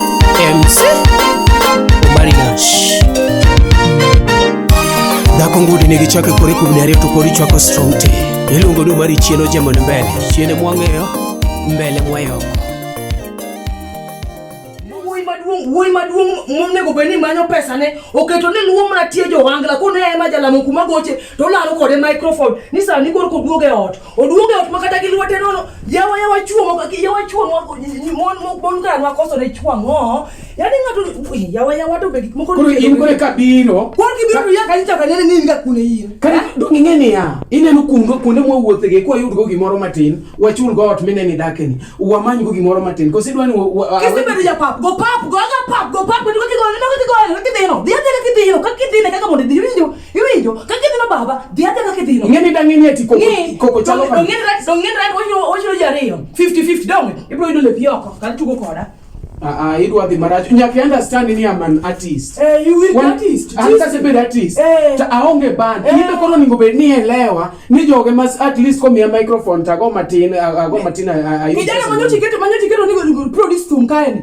MC Omari Nash Dhako ngudi nigi chakre kore kuom dare to kori chwako strong tea Iluongo ni Omari chieno jamon mbele Chiene mwang'eyo mbele mwayoko wuoyi maduong' wuoyi maduong' monego bed ni manyo pesane oketo ni luwo mana tie johangla kone ema jalamo kuma goche to olaro kode microphone ni sani koro koduog e ot Oduoge ot makata gi lwete nono yawa yawa chuo moko yawa chuo moko mon moko bon kana nwa koso ne chuo ngo. Yaani ngato yawa yawa to be gik moko. Koro in kore ka biro. Koro ki biro ya kanisa ka nene nini ka kune in. Kare dong ing'e ni ya. Ineno kundo kuonde mwa wuothe ge kwa yud go gimoro matin. Wachul go ot mineni dakeni. Wamany go gimoro matin. Kosi dwani Kisi bedo ja pap go pap go ga pap go pap go ki go ne go ki go ne ki dino. Dia dia ki dino ka ki dine kaka mondo dino. Iwinjo ka kidhino baba, dhi adhi ka kidhino. Ng'eni da ng'eni eti koko koko chalo kama. Ng'eni rat, ng'eni rat wachiro wachiro jariyo. 50 50 donge. Ibro yudo lepi oko, kan tugo koda. Ah ah, idwa dhi marach. Nyaka understand ni am an artist. Eh, you will Wan, artist. An ka sebed artist. Eh. Ta aonge band. Eh. Ibe kono ningo bed ni elewa ni joge mas at least ko miya microphone ta go matin, go matin ayo. Kijana manyo tiketo manyo tiketo ni go produce tum kae.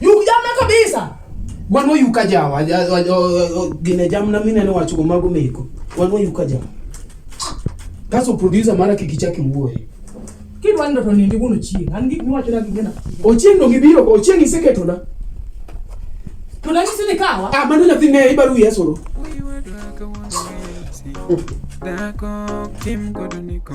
Yukjamna kabisa. Wan wayuka jam, gine jam na mine nowacho go mago meko. Wan wayuka jam. Kaso producer mara kik ichak iwuoye. Kidwa ndoto nindi kuno chieng. An gik miwacho na gigena. Ochieng no gibiro, ochieng iseketo na. To na nyisi ni kawa. Ah, mano nyathi ne ibaru yesoro. Dako kim kodo niko.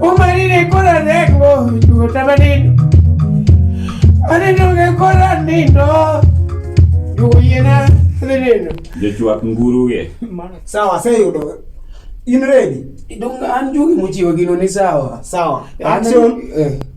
umarire kora rego duota manino anenoge kora nindo duoyena dhinino jochwak nguruge sawa aseyudo in ready Donge an jogi mochiwo gino ni sawa. Sawa. An- Action. eh.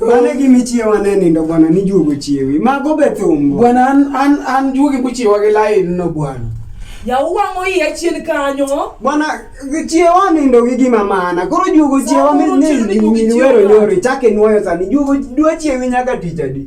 Mane gi michiewa ne nindo bwana ni juogo chiewi. Mago be thumbo. Bwana an an an juogi muchiewa gi lain no bwana. Yaw wang'o iya chien kanyo. Bwana chiewa nindo gi gima mana. Koro juogo chiewa mi ni ni wero nyori chake nuoyo sani. Juogo dwa chiewi nyaka tich adi.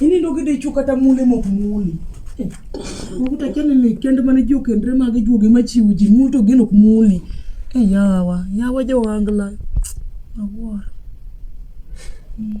Ini ndo kide chuka ta mule mok muli. Ukuta kene ni kende mane jo kendre mage juoge machiwo ji mul to gin ok muli. E yawa, yawa jo angla. Awuoro. Mm.